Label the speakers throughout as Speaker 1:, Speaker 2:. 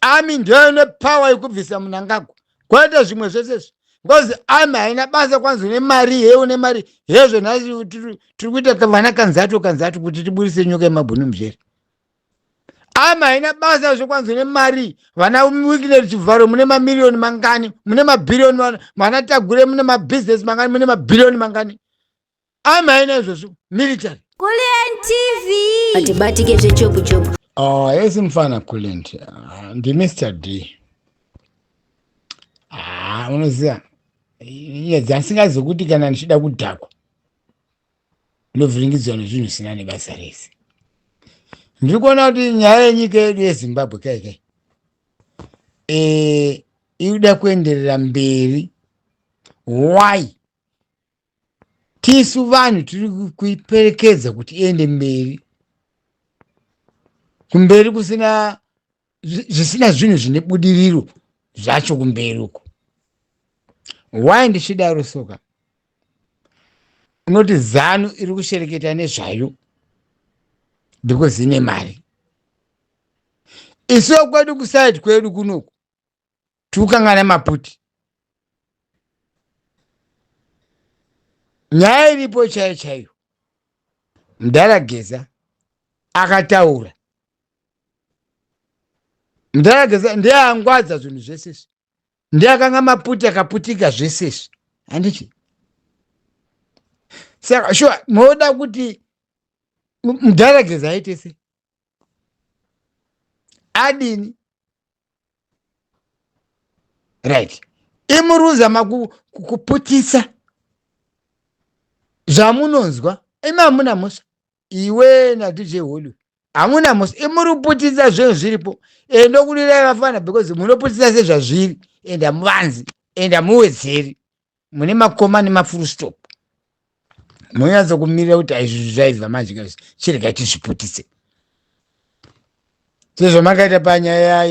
Speaker 1: ami ndiyo ine power yekubvisa munangagwa kwete zvimwe zvese zvi because ami haina basa kwanzi une mari he une mari hezvo nhai tiri kuita vana kanzatu kanzatu kuti tiburise nyoka yemabhunu mujeri ama haina basa zvekwanzi nemari vana wikinet chivharo mune mamiriyoni mangani mune mabhiriyoni vana tagure mune mabhizinesi mangani mune mabhiriyoni mangani amai naizvozvo military Kulliant
Speaker 2: TV hatibatike zvechopu chopu oh yes mfana
Speaker 1: Kulliant ah, ndi Mr D ah unoziva nyaya dzasingazi kuti kana ndichida kudhakwa ndovhiringidzwa nezvinhu zvisina nebasa rese ndiri kuona kuti nyaya yenyika yedu yezimbabwe kai kai e, iri kuda kuenderera mberi why tisu vanhu tiri kuiperekedza kuti iende mberi kumberi kusina zvisina zvinhu zvine budiriro zvacho kumberi uko why ndichidaro soka unoti zanu iri kushereketa nezvayo because ine mari isiwo kwedu kusaidi kwedu kunoku tukangana maputi nyaya iripo chaiyo chaiyo mudhara geza akataura mudhara geza ndiye angwadza zvinhu zvese izvi ndiye akanga maputi akaputika zvese izvi handiti saka shuwa moda kuti mudhara geza aite sei adini right imuruza makuputisa zvamunonzwa imi hamuna mhosva iwe nadj hollywood hamuna mhosva imuriputisa zvinhu zviripo and ndokulirai vafana because munoputisa sezvazviri and hamuvanzi and hamuwedzeri mune makoma nemafull stop monyatsa kumirira kuti aizvizvi zvaibva manje kazi chiregai tizviputise sezvamakaita panyaya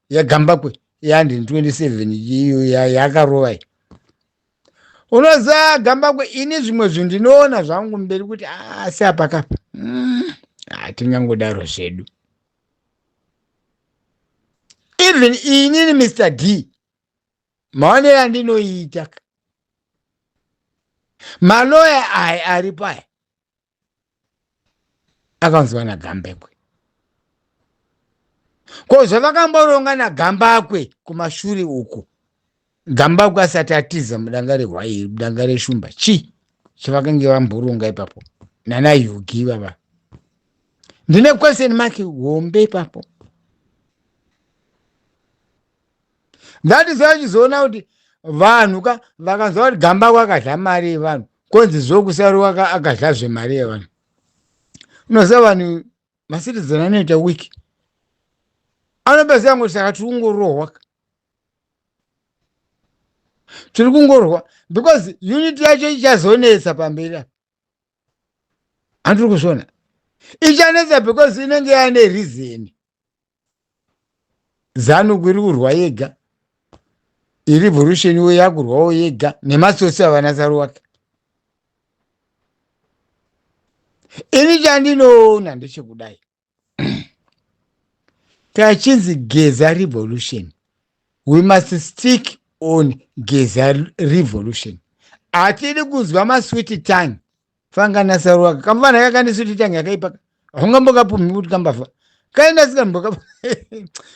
Speaker 1: yagambakwe yandi 27 iyo yakarova iyi unoziva gambakwe ini zvimwe zvinhu ndinoona zvangu mberi kuti asi ah, apakapa mm, hatingangodaro ah, zvedu even inini mr d maonero andinoita maloya aya ari paya akanzwa nagambekwe ko zvavakamboronga nagambakwe kumashure uku gambakwe asati atiza mudanga rehwairi mudanga reshumba chii chavakange vamboronga ipapo nana yugi ivava ndine question mark hombe ipapo that is achizoona kuti vanhu ka vakanzwa kuti gamba kwakadla mari yevanhu konzi zvokusarwa ka akadla zvemari yevanhu unoziva vanhu macitizen anoita wiki anobaziva ngoti saka tiri kungorohwa ka tiri kungorohwa because unit yacho ichazonetsa pamberi apa handiri kuzviona ichanetsa because inenge yane reason zanu iri kurwa yega irevolution we yakurwawo yega nemasosi avana saruwaka ini chandinoona ndechekudai tachinzi geza revolution we must stick on geza revolution hatidi kunzwa masweet tongue fangana saru waka kamvana kakandisuti tange akaipaka haungambokapumhi kuti kambafa kaenda sikamboka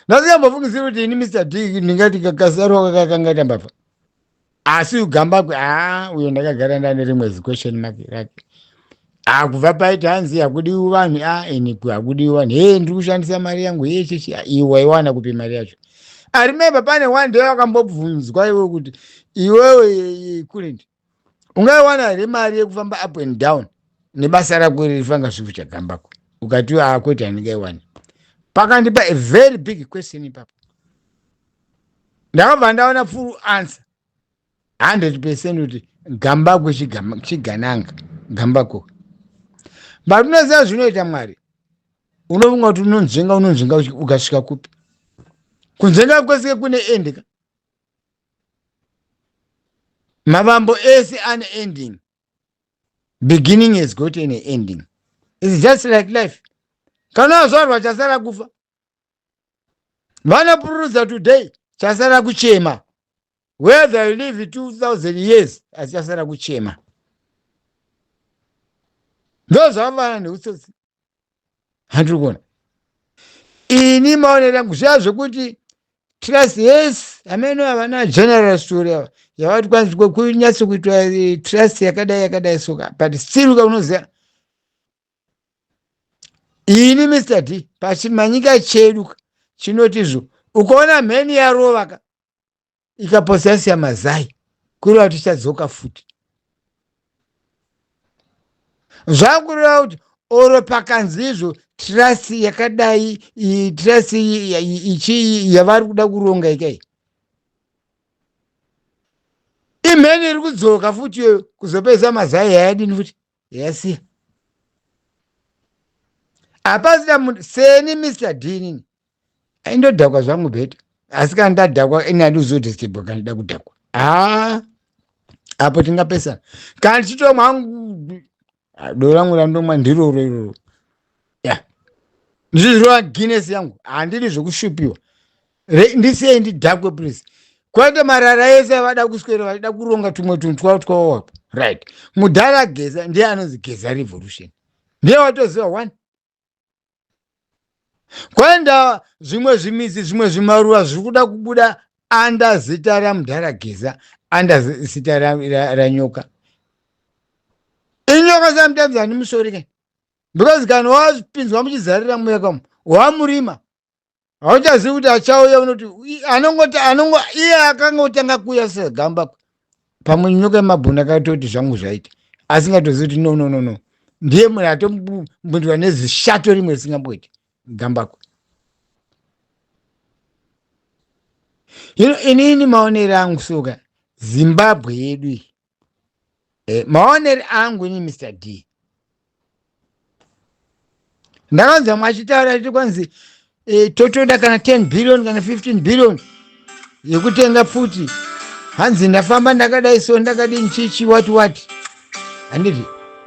Speaker 1: ndasikambofungisiri kuti ini mr d ndingati kasaru waka kakanga kambafa asi ugamba kwe haa uyo ndakagara ndane rimwe ziquestion mark rake haa kubva paiti hanzi hakudiwi vanhu a ini ku hakudiwi vanhu hee ndiri kushandisa mari yangu yechechi iwe waiwana kupi mari yacho arimembe pane one day wakambobvunzwa iwe kuti iwewe kurindi ungaiwana here mari yekufamba up and down nebasa rako iri rifanga zvifu chagambako ukatiwo akwete ah, handingaiwani pakandipa a very big question ipapo ndakabva ndaona full answer 100 percent kuti gambako chigananga gambako but unoziva zvinoita mwari unofunga kuti unonzvenga unonzvenga ukasvika kupi kunzvenga kwese kune endeka Mavambo ese ane ending. Beginning has got an ending. It's just like life. Kana wazvarwa chasara kufa. Vanopururudza today chasara kuchema. Whether you live 2000 years asi chasara kuchema. Ndozvavana neutsotsi. handiri kuona ini maonero yangu zviya zvekuti trust yes ameno havana general story ava yavati kwanzi kunyatso kuitwa eh, trust yakadai yakadai soka but still uka unoziva ini mr d pachimanyika chedu chinotizvo ukaona mheni yarovaka ikaposa yasiya mazai kureva kuti ichadzoka futi zvakureva kuti oro pakanzi izvo trust yakadai trust ichii yavari kuda kuronga ikai imheni iri kudzoka futi iyoyo kuzopedza mazai yayadini futi yesi hapasina munhu seni mr dinin aindodhakwa zvangu beta asi kana ndadhakwa ini andizodestebwa kana ndida kudhakwa haa apo tingapesana kana ndichitomwa hangu ah, doro rangu randomwa ndiroro iroro ya ndizvizirova guinness yangu handiri zvekushupiwa ndisiyei ndidhakwe please kwete marara ese avada kuswera vachida kuronga tumwe tunhu twavo twavo apa right mudhara geza ndiye anonzi geza revolution ndiye watoziva one kwaenda zvimwe zvimidzi zvimwe zvimaruva zviri kuda kubuda anda zita ramudhara geza anda zita ranyoka inyoka sometimes handimusori kai because kana wapinzwa muchizarira mweya kamo wamurima hauchazivi kuti achauya unoti anongoti anongo iye akanga otanga kuuya segamba pamwe nyoka yemabhuna akatoti zvangu zvaita asingatozivi kuti no no no no ndiye munhu atombundirwa nezishato rimwe risingamboiti gambako hino inini maonero angu soka zimbabwe yedu iyi e, maoneri angu ini mr d ndakanzwa mwachitaura iti kwanzi e, totoda kana 10 billion kana 15 billion yekutenga pfuti hanzi ndafamba ndakadai so ndakadini chichi what what handiti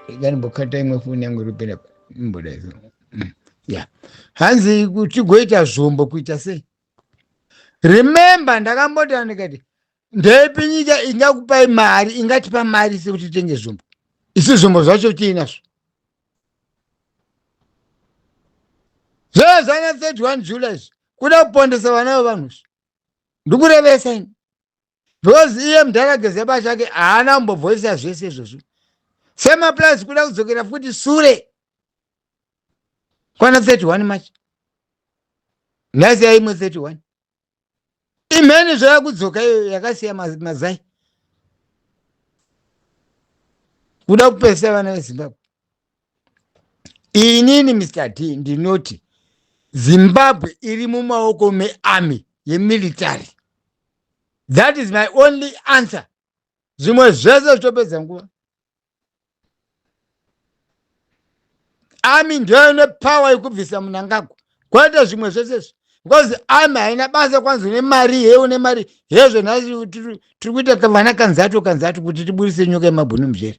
Speaker 1: ikanimbokata imwe foni yangu iripera imbodai so mm, ya hanzi tigoita zvombo kuita sei remember ndakambotana ndikati ndeipi nyika ingakupai mari ingatipa mari sekuti tenge zvombo isi zvombo zvacho tiinazvo zvezana 31 july izvi kuda kupondesa vana vevanhu izvi ndikurevesa ini because iye mudhara gezeba chake haana kumbobvoisa zvese izvozvo semaplus kuda kudzokera futi sure kwana 31 march nhasi yaimwe 31 imheni zvayakudzoka iyo yakasiya mazai kuda kupesa vana vezimbabwe inini mr d ndinoti zimbabwe iri mumaoko mearmy yemilitary that is my only answer zvimwe zvese zvitopedza nguva ami ndiyo ine power yekubvisa munangagwa kwete zvimwe zvese izvi because ami haina basa kwanzi une mari here une mari hezvo nhai tiri kuita vana kanzato kanzato kuti tiburise nyoka yemabhunu muzvere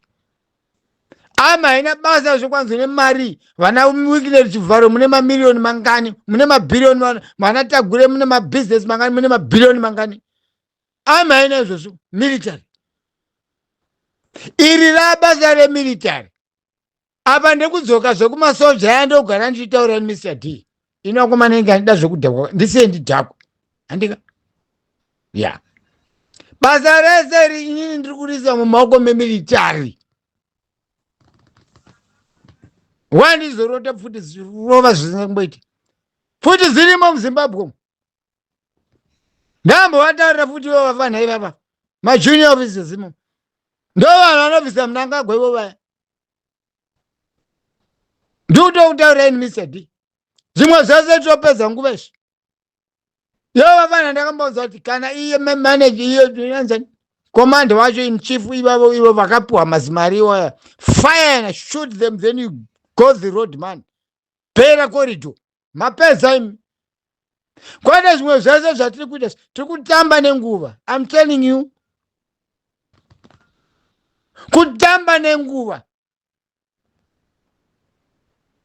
Speaker 1: ami haina basa zve kwanzi une mari vana wikinet chivharo mune mamiriyoni mangani mune mabhiriyoni vana tagure mune mabusiness mangani mune mabhiriyoni mangani amai naizvozvo military iri rabasa remilitary apa ndekudzoka zvekumasoja aya ndogara ndichitaura mr d inokomana inge andida zvekudhakwa ndisiye ndidhakwa handika ya basa rese iri inini ndiri kuriisa mumaoko memilitary wandizorota pfuti zirova zvisina kumboita pfuti zirimo muzimbabwe umu ndambo vatarira futi ivo vafana ivava majunior officers imo ndo vanhu vanobvisa munangagwa ivo vaya ndikutokutaura ini mr d zvimwe zvese topedza nguva izvi yo vafana ndakambaudza kuti kana iye manaje iyo anzani komanda wacho in chief ivavo ivo vakapiwa mazimari iwaya fire and shoot them then you go the road man pera corridor mapedza imi kwete zvimwe zvese zvatiri kuita tiri kutamba nenguva im telling you kutamba nenguva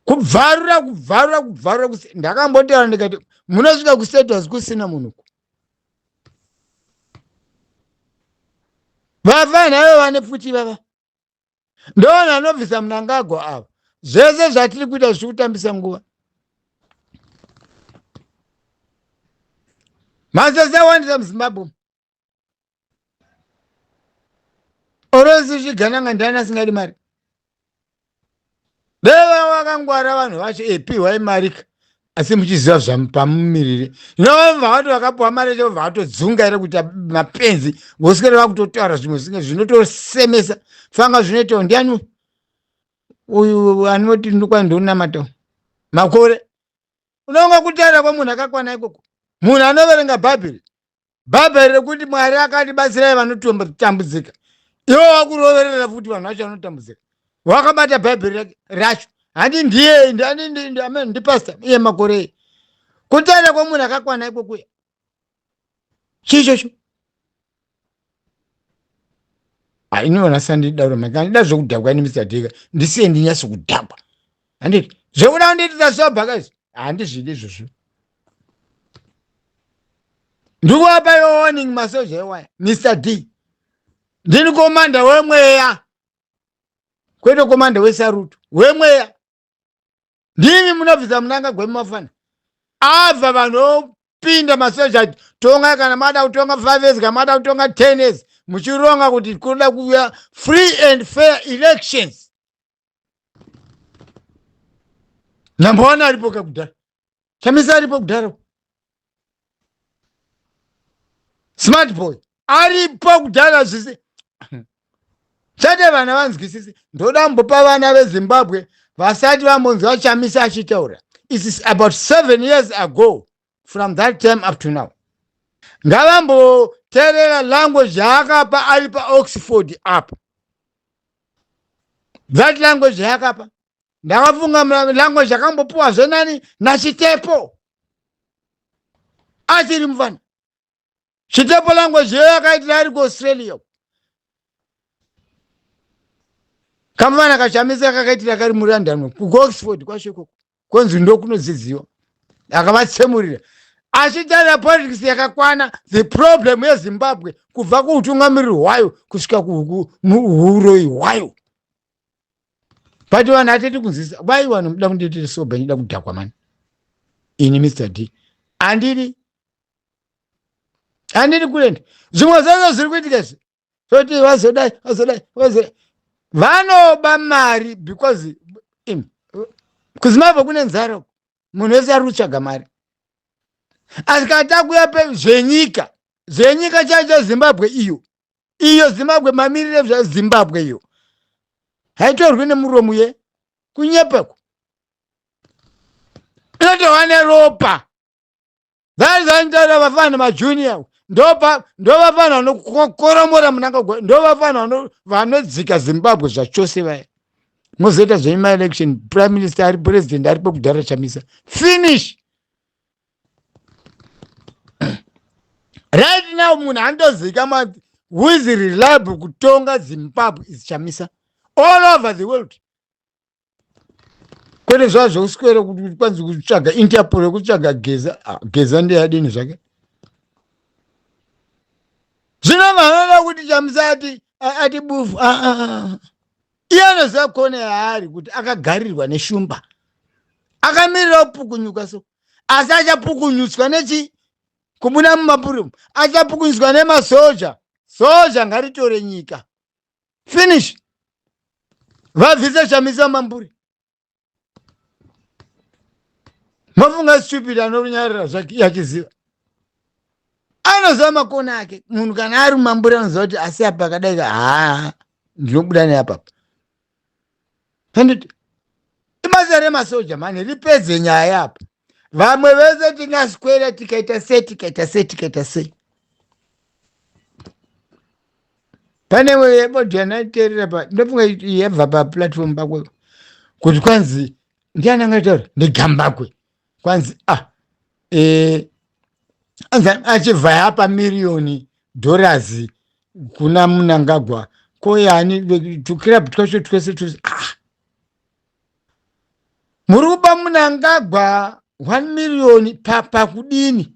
Speaker 1: kubvarura kubvarura kubvarura ndakambotaura ndikati munosvika kusetwas kusina munhuku vafana ivo vane pfuti vava ndoona anobvisa munangagwa ava zvese zvatiri kuita zvichiri kutambisa nguva masese awandisa muzimbabwe orosi zvigananga ndiani asingadi mari dai vava vakangwara vanhu vacho e pihwai mari ka asi muchiziva zvapamumiriri zvinovamva vato vakapiwa mari yacho vobva vatodzunga here kuita mapenzi ngosikere vakutotaura zvimwe zvinge zvinotosemesa fanga zvinoitawo ndiani uyu anoti ndokwa ndonamata makore unonga kutaura kwemunhu akakwana ikoko munhu anoverenga bhaibheri bhaibheri rekuti mwari akatibatsirai vanotambudzika iwo wakuroverera futi vanhu vacho vanotambudzika wakabata bhaibheri racho handi ndiye ndiamen ndipasta iye makorei kutaura kwemunhu akakwana ikwokuya chii chocho hainivona sandidaro maka ndida zvekudhakwa ini mr dika ndisiye ndinyasi kudhakwa handiti zvekuda kundiitisa sober guys handizvidi izvozvo ndikuapa yo warning masoja ewaya mr d ndini komanda wemweya kwete komanda wesaruto wemweya ndimi munobvisa munanga gwemumafana abva vanhu opinda masoja ati tongai kana mada kutonga five years kana mada kutonga ten years muchironga kuti kuda kuuya free and fair elections number one aripo ka kudhara chamisa aripo kudhara smart boy aripo kudhara zvise chete vana vanzwisisi ndoda mbopa vana vezimbabwe vasati vambonzwa chamisa achitaura isis about seven years ago from that time up to now ngavamboterera language yaakapa ari paoxford apa that language yaakapa ndakafunga language yakambopiwa zvenani nachitepo achiri mufana Chitepo language iyoyo akaitira ari kuAustralia. Kamwana kachamisa kakaitira kari muLondon kuOxford kwacho ikoko konzi ndokunodzidziwa akavatsemurira achitaura politics yakakwana the problem yezimbabwe kubva kuutungamiriri hwayo kusvika kuuroyi hwayo but vanhu hatiti kunzisa why vanhu muda kundiitira soba ndida kudhakwa mani ini mr d andiri handini kuenda zvimwe zvazvo zviri kuitika izvi toti vazodai vazodai vazodai vanoba mari because kuzimaivo kune nzara munhu wese ari kutsvaga mari asi kana takuya pe zvenyika zvenyika chaicho zimbabwe iyo iyo zimbabwe mamirire zvezimbabwe iyo haitorwi nemuromo ye kunyepeko inotova neropa vaizanzara vafana majunior ndovafana vanokoromora munangagwa ndovafana vanodzika zimbabwe zvachose vaya mozoita zvenyu maelection prime minister ari president aripo kudhara chamisa finish right now munhu andozikamwa who is reliable kutonga zimbabwe is chamisa all over the world kwete zvazvo uswere kuti kwanzi kutsvaga interpol yekutsvaga geza ah, geza ndeyadini zvake zvino vanoda kuti chamusati ati bufu ah, ah, iye anoziva kone yaari kuti akagarirwa neshumba akamirira kupukunyuka so asi achapukunyutswa nechi kubuda mumapurimu achapukunyutswa nemasoja soja ngaritore nyika finish vabvise chamisa mamburi mafunga stupid anorunyarira zvake yachiziva anoziva makona ake munhu kana ari mamburi anoziva kuti asi apa akadai haa ndinobuda neapapa handiti ibasa remasoja mani ripedze nyaya yapo vamwe vese tingaswera tikaita sei tikaita sei tikaita sei pane yebodhi yanaiterera pa ndofunga yabva paplatform pakwe kuti kwanzi ndiani angataura ndigambakwe kwanzi ah eh anzi achibva yapa miriyoni dollars kuna munangagwa ko yani tuclub twacho twese twese ah muri kupa munangagwa 1 miriyoni pakudini pa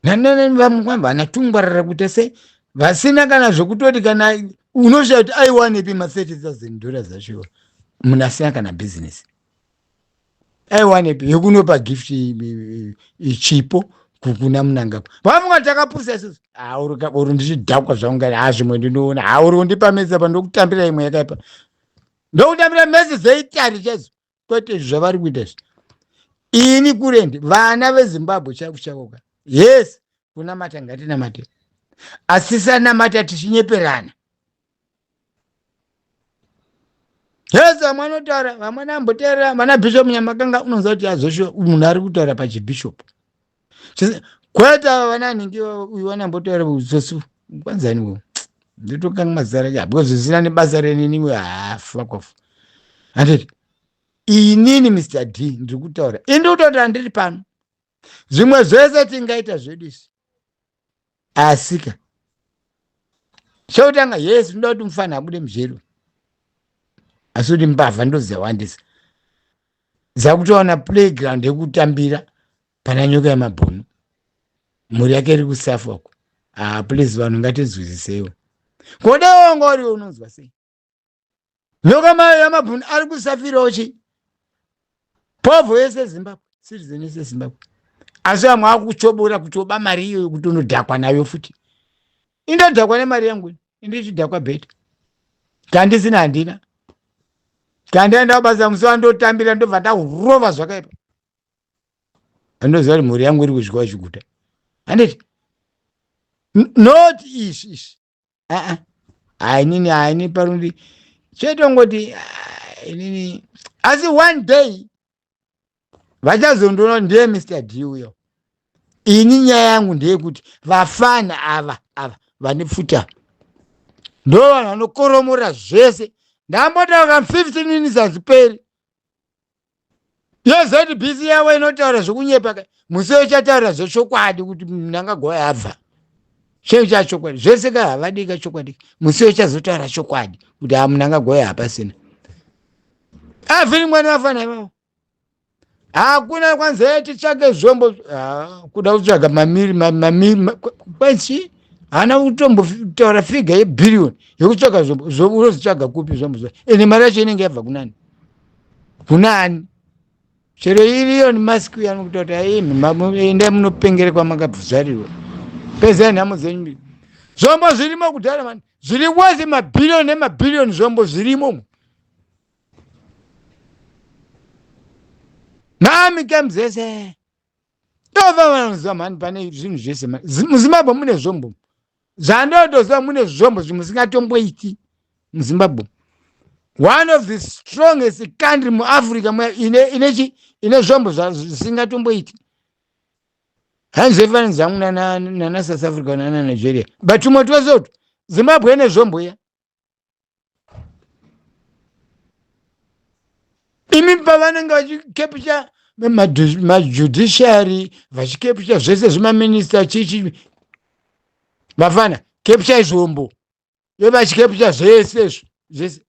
Speaker 1: nananani vamukwamba ana tungwarara kuita sei vasina kana zvekutoti kana unoshaya kuti aiwanepi ma30 dollars acho munhu asina kana bhizinesi aiwanepi yekunopa gift chipo kukuna munangagwa pamwe takapusa isusu auri ndichidhakwa zvaunga ha zvimwe ndinoona hauri undipa mesa pa ndokutambira imwe yakaipa ndokutambira mesa dzeitari chaidzo kwete izvi zvavari kuita izvi ini kurendi vana vezimbabwe chaiku chauka yes kunamata ngatinamate asi sanamata tichinyeperana yes vamwe anotaura vamwe namboteerera vana bishop nyamakanga unonzwa kuti azoshuwa munhu ari kutaura pachibishopu kwete ava vana anenge uyu vanambotaura sosu kwanzani wo ndotokanga mazita rake because zvisina nebasa reniniwe hafakofa ah, handiti inini mr d ndiri kutaura ini ndiri kutaura ndiri pano zvimwe zvese tingaita zvedu isi asika chokutanga yes unoda kuti mufana abude mujeri asi kuti mbavha ndodzawandisa dzakutowana playground yekutambira pana nyoka yemabhunu mhuri yake iri kusafok ah please vanhu ngatinzwisiseiwo kodewongoriwe unonzwa sei nyoka mayo yamabhuni ari kusafirawo chii povho yese zimbabwe citizen yese zimbabwe asi vamwe akuchobora kutoba mari iyoyo kuti unodhakwa nayo futi indodhakwa nemari yangu indichidhakwa bheta kandisina handina kandaenda kubasa musi wandotambira ndobva ndahurova zvakaipa andoziva kuti mhuri yangu iri kudyiwa chiguta handiti not izvi izvi aa hainini haini parundi chetongoti inini asi one day vachazondoona ndiye mr d uyo ini nyaya yangu ndeyekuti vafana ava ava vane pfuta ndo vanhu vanokoromora zvese ndambotaura 15 minutes hazviperi yezbc yavo inotaura zvekunyepa ka musi yochataura zvechokwadi kuti mnangagwa yabva chei chachokwadi zvese ka havadii ka chokwadi musi yochazotaura chokwadi kuti ha mnangagwa hapasina avhiri mwana vafana ivavo hakuna kwanzi e titsvage zvombo Ah, kuda kutsvaga mamiri ma- mamiri ma- kwa- kwanzi haana kutombotaura figa yebhiriyoni yekutsvaga zvombo Zvo- unozvitsvaga kupi zvombo zva ende mari yacho inenge yabva kunani kunani chero iriyo nemasiku yanokuta kuti aimi enda munopengere kwamakabvuzarirwa pezai nhamo dzenyu mbiri zvombo zvirimo kudhara mani zviri wose mabhiriyoni nemabhiriyoni zvombo zvirimo mami kam dzese tova vanoziva mani pane zvinhu zvese muzimbabwe mune zvombo zvandotoziva mune zvombo zvimusingatomboiti muzimbabwe one of the strongest country muafrica inechi ine zvombo zvisingatomboiti hanzi zvefananidzo yangu nana south africa nana nigeria but tumwe twese utu zimbabwe ine zvombo iya imi pavanenge vachikepisha majudiciary vachikepisha zvese zvemaminista chichi vafana kepisha izvombo vevachikepisha zvese zvese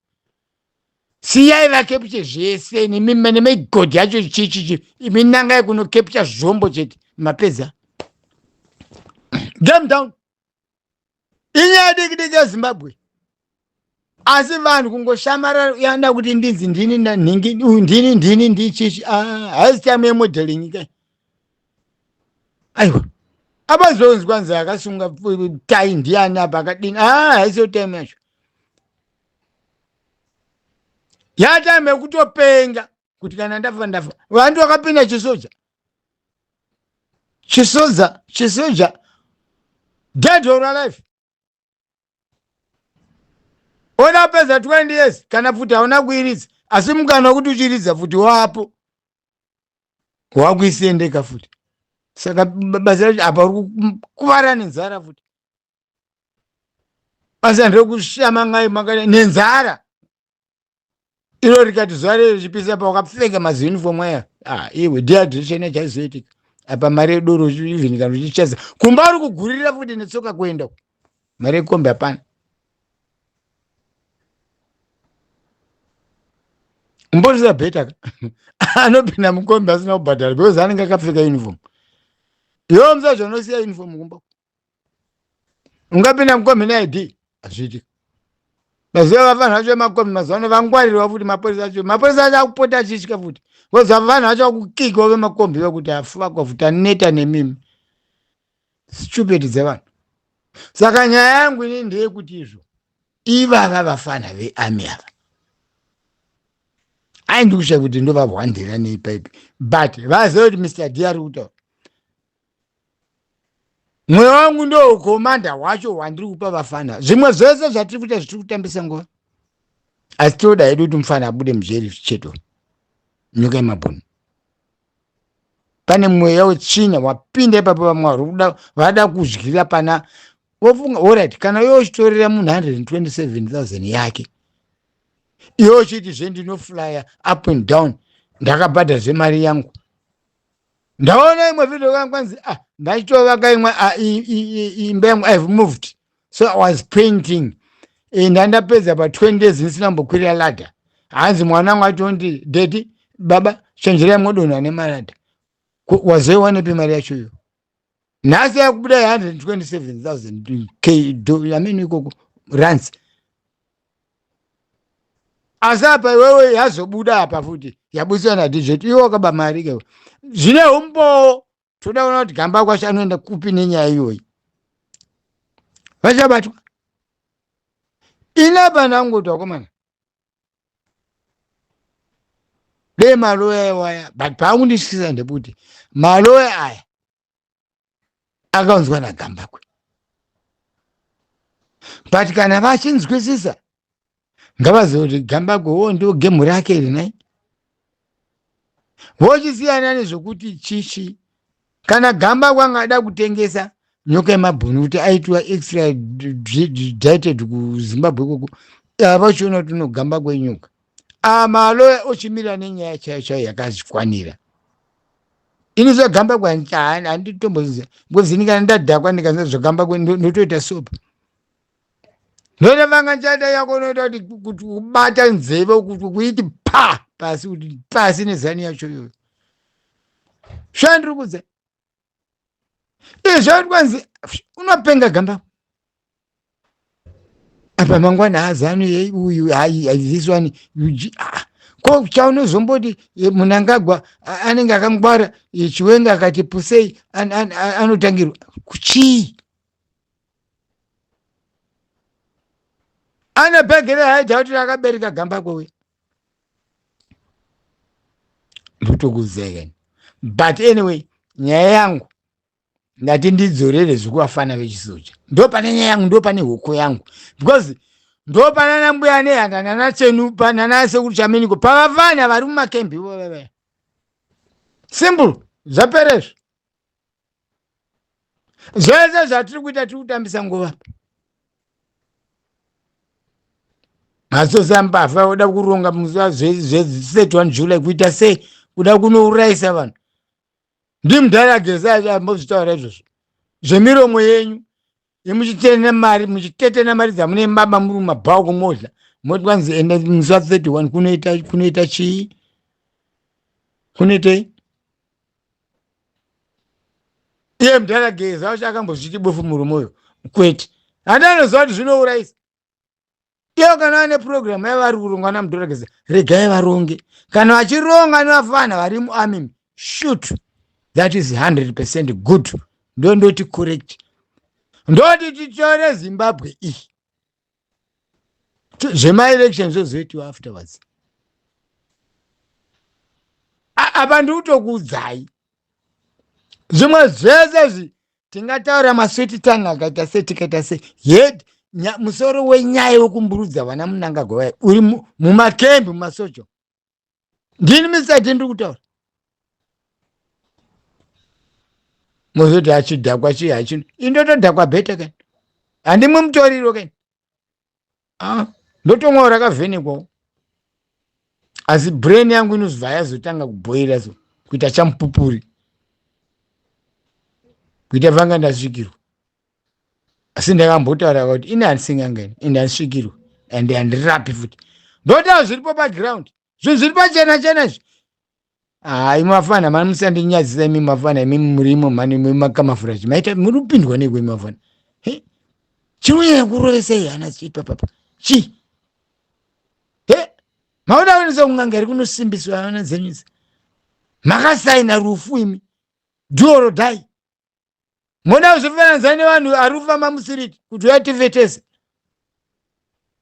Speaker 1: siyai vakepishe zvese nemaigodhi yacho chichichi imi nangai kunokepisha zvombo chete mapedza game down inyaya diki diki yezimbabwe asi vanhu kungoshamara yana kuti ndinzi ndini na- nhingi uyu ndini ndini ndichichi haisi time yemodeling kai aiwa apazonzwa nzi akasunga pu- tai ndiyani apa akadini aa haisiyo time yacho yatime yekutopenga kuti kana ndafa ndafa vantu vakapinda chisoja chisoja chisoja dead or alive ona apedza 20 years kana futi hauna kuiridza asi mukana wekuti uchiridza futi wapo wakuisendeka futi saka b- basa racho apa uri ku- kuvara nenzara futi basa ndekushamangai makada nenzara iro rikati zuva rei richipisa pawakapfeka maziunifomu aya ah, iwe dehydration yachaizoitika apa mari yedoro even kana uchicheza kumba uri kugurira futi netsoka kuenda mari yekombi hapana umbozviza bheta ka anopinda mukombi asina kubhadhara because anenge akapfeka uniform iwe muzazvanosiya uniform kumba ungapinda mukombi neid hazviitiki maziva vavanhu vacho vemakombi mazuva ano vangwarirwa futi mapurisa acho mapurisa acho akupota achitya futi because vavanhu vacho vakukikwa vemakombi vekuti afakwa futi aneta nemimi stupid dzevanhu saka nyaya yangu ini ndeyekuti izvo ivava vafana veami ava aindi kushaya kuti ndovahwandira nei paipi but vazive kuti mr d ari kutaura mweya wangu ndo ukomanda hwacho hwandiri kupa vafana zvimwe zvese zvatiri kuita zvitiri kutambisa nguva asi tinoda hedu kuti mufana abude mujeri cheto nyika yemabhunu pane mweya wetsvina wapinda ipapo vamwe vari vada kudyira pana wofunga orit kana yochitorera munhu 127000 yake yochiti zve ndinoflya up and down ndakabhadhara zvemari yangu ndaona imwe video yangu kwanzi ah ndachitovaka imwe ah, imba yangu i've moved so i was painting eh, ndandapedza pa 20 days ndisina mbokwirira ladha hanzi mwana wangu atondi dedi baba chenjerai modonha nemalada wazoiwanepi mari yacho iyo nhasi yakubuda ye 127000 k i mean ikoko runs asi apa iwewe yazobuda apa futi yabudiswa nadj iwe wakaba mari ke zvine umbowo toda kuona kuti gamba kwasho anoenda kupi nenyaya iyoyi vachabatwa ine apa ndangotiwakomana dei maloya iwaya but paakundityisa ndekuti maloya aya akaunzwa nagambakwe but kana vachinzwisisa ngavazive kuti gambakwe wo ndo gemu rake iri nai vochisiyana nezvekuti chichi kana gamba kwangada kutengesa nyoka yemabhunu kuti aitwa extra dieted kuzimbabwe koko avachiona kuti unogamba kwenyoka amaloya ah, ochimira nenyaya chayo chayo yakazvikwanira ini zvagamba kwani handitomboziva ngozi ndikana ndadhakwa ndikanza zvagamba kwe ndotoita sopa Ndoda manga nchada yako unoita kuti kuti kubata nzeve kuti kuiti pa pasi kuti pasi nezani yacho iyoyo. Shandiri kudze. Izvo kwanzi unopenga gamba. Apa mangwana hazanu yei uyu hayi hayi this one you ji- ah. Ko chaunozomboti eh, Munangagwa a- anenge akangwara eh, Chiwenga akati pusei an- an- an- anotangirwa kuchii? ane bhegi rehaidha kuti rakabereka gamba kwewe ndotokuzekeni but anyway nyaya yangu ndati ndidzorere zvekuvafana vechisoja ndo pane nyaya yangu ndo pane hoko yangu because ndo panana mbuya nehanda nana chenu panana sekuru chaminiko pavavana vari mumakembi ivo vavaya simple zvaperezvo zvese zvatiri kuita tiri kutambisa nguva masosa mbavha oda kuronga muzuva zveset one july kuita sei kuda kunourayisa vanhu ndimudhara gesa ambozvitaura izvozvo zvemiromo yenyu imuchitenda mari muchitetena mari dzamune baba muri mumabhawa kumodla moti wanzi enda musa 31 kunoita kunoita chii kunoitei iye mdhara geza wacho akambozviti bofu murume uyo kwete handi anoziva kuti zvinourayisa iyo kana vane purogiramu yavo vari kurongwa namudhorakisi regai varonge kana vachironga nevafana vari muamim shut that is 100 percent good ndo ndoti correct ndoti titore zimbabwe iyi zvemaelection zvozoitiwa afterwards apa ndikutokuudzai zvimwe zvese izvi tingataura maswiti tanga akaita sei tikaita sei head musoro wenyaya wekumburudza vana munangagwa vaya uri mumakembi mumasocho ndini misati ndiri kutaura mozoti achidhakwa chii hachino indotodhakwa bheta kani handimwe mutoriro kani ah, ndotomwawo rakavhenekwawo asi brain yangu inozobva yazotanga kubhoira so kuita chamupupuri kuita vanga ndasvikirwa asi ndakambotaura kuti ini handisingangani ende handisvikirwa and handirapi futi ndotawo zviripo paground zvinhu zviri pachena chena izvi hayi mafana mani musandinyadzisa imi mafana imi murimo mani makamafurachi maita muri kupindwa neiko imi mafana chiunyaya kurovesei hana chiitwa papa chii maona onesa kun'anga iri kunosimbiswa ana dzenyusi makasaina rufu imi duoro dai moda kuzofananidza nevanhu ari kufamba musiriti kuti uyatevetese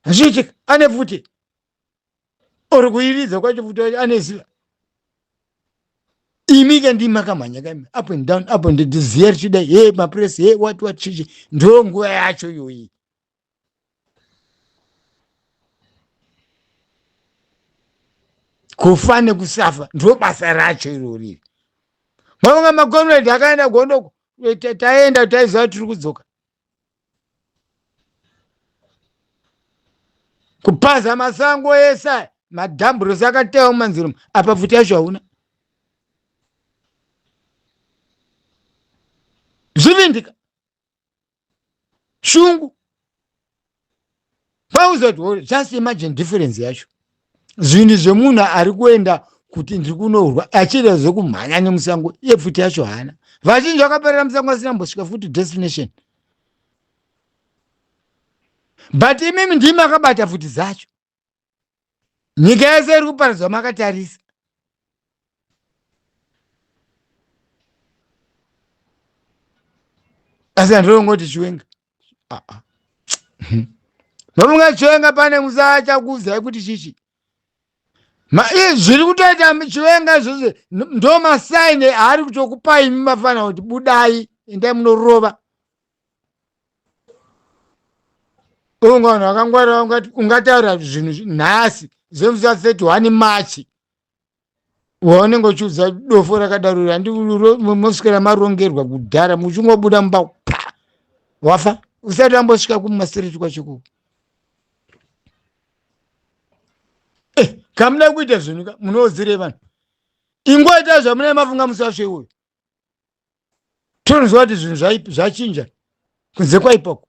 Speaker 1: zviitika ane pfuti or kuiridza kwacho pfuti wacho ane ziva imi ke ndimi makamhanya kaimi up and down up and down zviya richidai he mapresi he what what chichi ndo nguva yacho iyoyi kufa nekusafa ndiro basa racho irori mavanga makomredi akaenda gondoko eh, taenda taiziva tiri kudzoka kupaza masango ese madhamburosi akatewa mumanzira mu apa pfuti yacho hauna zvivindika shungu pauzoti just imagine difference yacho zvinhu zvemunhu ari kuenda kuti ndiri kunourwa achiita zvekumhanya nemusango iye pfuti yacho haana vazhinji vakaperera musango asina mbosvika futi destination but imimi ndimi akabata pfuti dzacho nyika yese iri kuparadzwa makatarisa asi handinongoti chiwenga ah, ah. nomunga chiwenga pane musachakuudzai kuti chichi zviri kutoita chiwenga izvozvo ndo masaini aari kutokupai mumafana kuti budai endai munorova unga vanhu vakangwarira ungataura zvinhu nhasi zvemusa 31 march waunenge uchiudza dofo rakadaro andimosvikira marongerwa kudhara muchingobuda mumba pa wafa usati ambosvika kumasiriti kwachoko eh, kamuda kuita zvinhu munoodzirei vanhu ingoita zvamunee mafunga musasve uyo tonzwa kuti zvinhu zvachinja kunze kwaipoko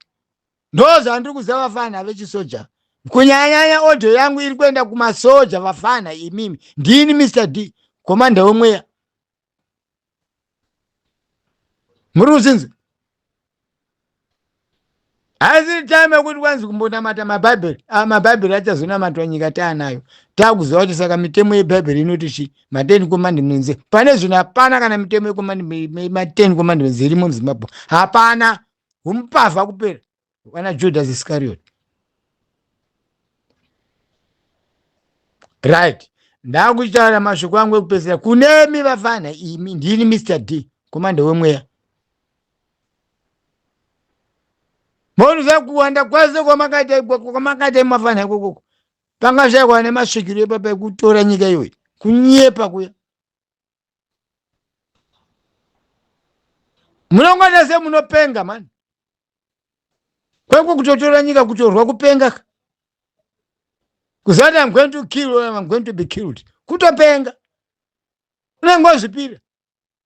Speaker 1: ndozvandiri kuziva vafana vechisoja kunyanyanya odho yangu iri kuenda kumasoja vafana imimi ndini mr d komanda wemweya muri kuzinzi haisiri time yekuti kwanzi kumbonamata mabhaibheri ah, mabhaibheri achazonamatwa nyika taanayo takuziva kuti saka mitemo yebhaibheri inoti chi maten commandments pane zvino hapana kana mitemo yematen commandments irimo muzimbabwe hapana humupavha kupera vana judas iscariot right ndakuchitaura mashoko angu ekupedzisira kunemi vafana imi ndini mr d komanda wemweya Monoziva kuwanda kwese kwamakaita ikoko kwamakaita imafana ikokoko pangashaikwa nemasvikiro epapa ekutora nyika iyoyi kunyepa kuya munongwanda se munopenga mani kweko kutotora nyika kutorwa kupenga ka kuzati am going to kill or am going to be killed kutopenga unenge wazvipira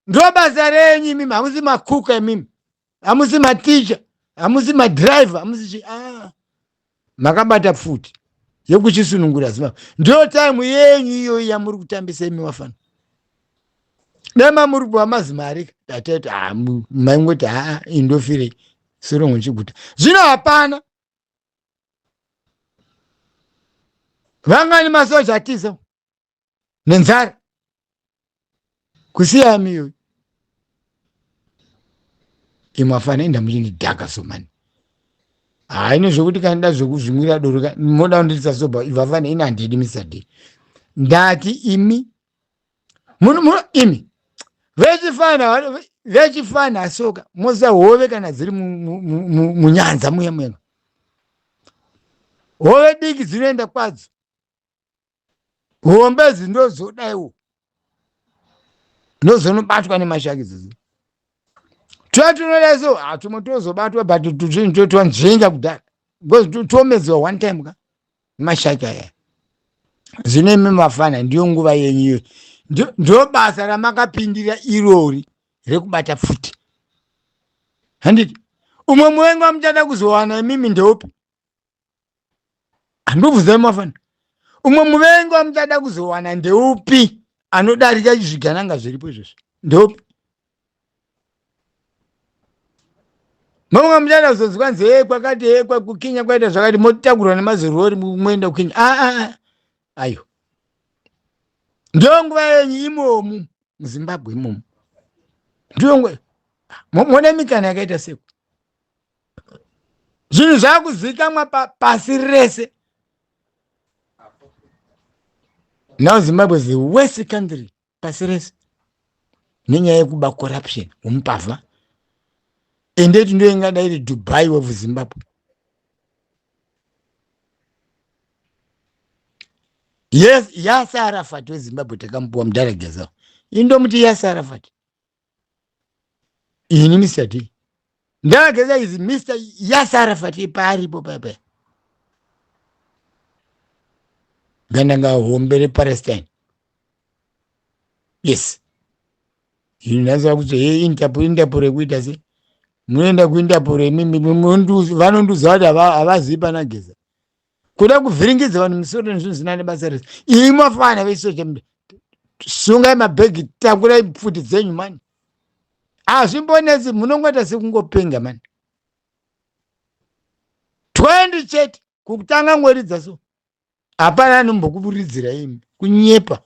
Speaker 1: ndobasa renyu imimi hamusi makuka imimi hamusi maticha hamusi madrive hamusi chi ah. makabata pfuti yekuchisunungura zimaba ndiyo time yenyu iyoyi yamuri kutambisa imi vafana dema muri kupiwa mazimari tatete ah, maingoti haa ah, indofirei sorongo chiguta zvino hapana vangani masoja atiza nenzara kusiya miyo imwe afana enda muchini dhaka somani haine zvekuti kandida zvekuzvimwira doro ka moda kundirisa soba ivafana ini handidi misade ndati imi muno muno imi vechifana vechifana asoka mosa hove kana dziri mu- mu- mu- mu- munyanza muya muya hove diki dzinoenda kwadzo hombe idzi ndozodaiwo ndozonobatwa nemashaki dzidzi twatinodaso hatumwe ah, tozobatwa but tuchinhu toitwa nzvenga kudhara because tomedzwa one time ka mashaki aya zvino imi mafana ndiyo nguva yenyu iyo ndo basa ramakapindira irori rekubata pfuti handiti umwe muvengi wamuchada kuzowana imimi ndeupi handobvunza mafana umwe muvengi wamuchada kuzowana ndeupi anodarika zvigananga zviripo izvozvo ndeupi mamwe muchada kuzonzwa nzi hee kwakati hee kwakukinya kwaita zvakati motakurwa nemazirori moenda kukinya aa ah, ah, ah. ayo ndiyo nguva yenyu imomu muzimbabwe imomu ndiyo nguva mone mikana yakaita seku zvinhu zvakuzivikanwa pasi rese now zimbabwe is the worst country pasi rese nenyaya yekuba corruption womupavha ende iti ndo ingada iri dubai of zimbabwe yes yasarafat wezimbabwe takamupiwa mudhara gezao indomuti yasarafat ini ndisati ndageza izi mr yasara fati paaripo papa ndandanga hombe repalestine yes ini ndazava kuti he intapo intapo rekuita se munoenda kuintapo revanondiuza kuti havazivi panageza kuda kuvhiringidza vanhu musoro nezvinhu zvina nebasa rese imi mafana vesoja mda sungai mabhegi takurai pfuti dzenyu mani hazvimbonetsi munongoita sekungopenga mani 20 chete kukutanga ngoridza so hapana anombokuvuridzira imi kunyepa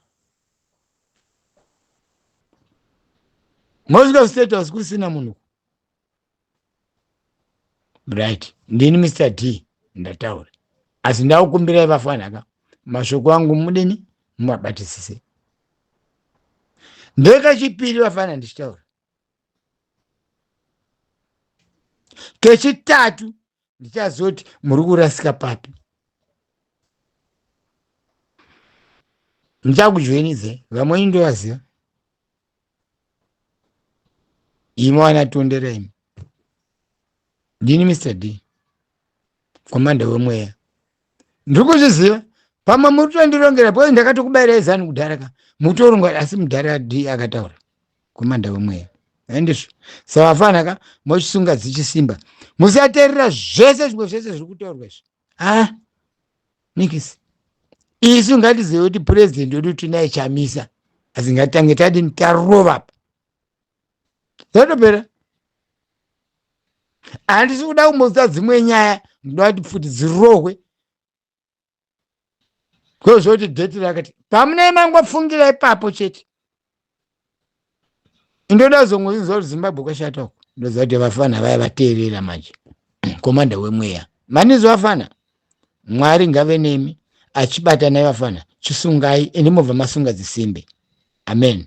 Speaker 1: mosvika kustate house kusina munhu right ndini mr d ndataura asi ndakukumbirai vafanaka mashoko angu mudini mumabatisise ndekechipiri vafana ndichitaura kechitatu ndichaziva kuti muri kurasika papi ndichakujoinidze vamweni ndovaziva imi wana tondera imi ndini mr d komanda wemweya ndiri kuzviziva pamwe muri kutondirongera bcause ndakatokubaira izani kudhara ka mutoronga asi mudhara d akataura kumanda wemweya handizvo saka afana ka mochisunga dzichisimba musaterera zvese zvimwe zvese zviri kutaurwa izvi a ah, nikisi isu ngatizive kuti purezidhendi wedu tinaye chamisa asi ngatitange tadini tarova pa zvatopera handisi kuda kumboudza dzimwe nyaya ndoda kuti pfuti dzirohwe kozoti dheti rakati pamunei mangofungira ipapo chete ndoda kuzongozinzwa kuti zimbabwe kwashata uko ndoziva kuti vafana vaya vateerera manje komanda wemweya manizi vafana mwari ngave nemi achibatanai vafana chisungai ende mobva masunga dzisimbe amen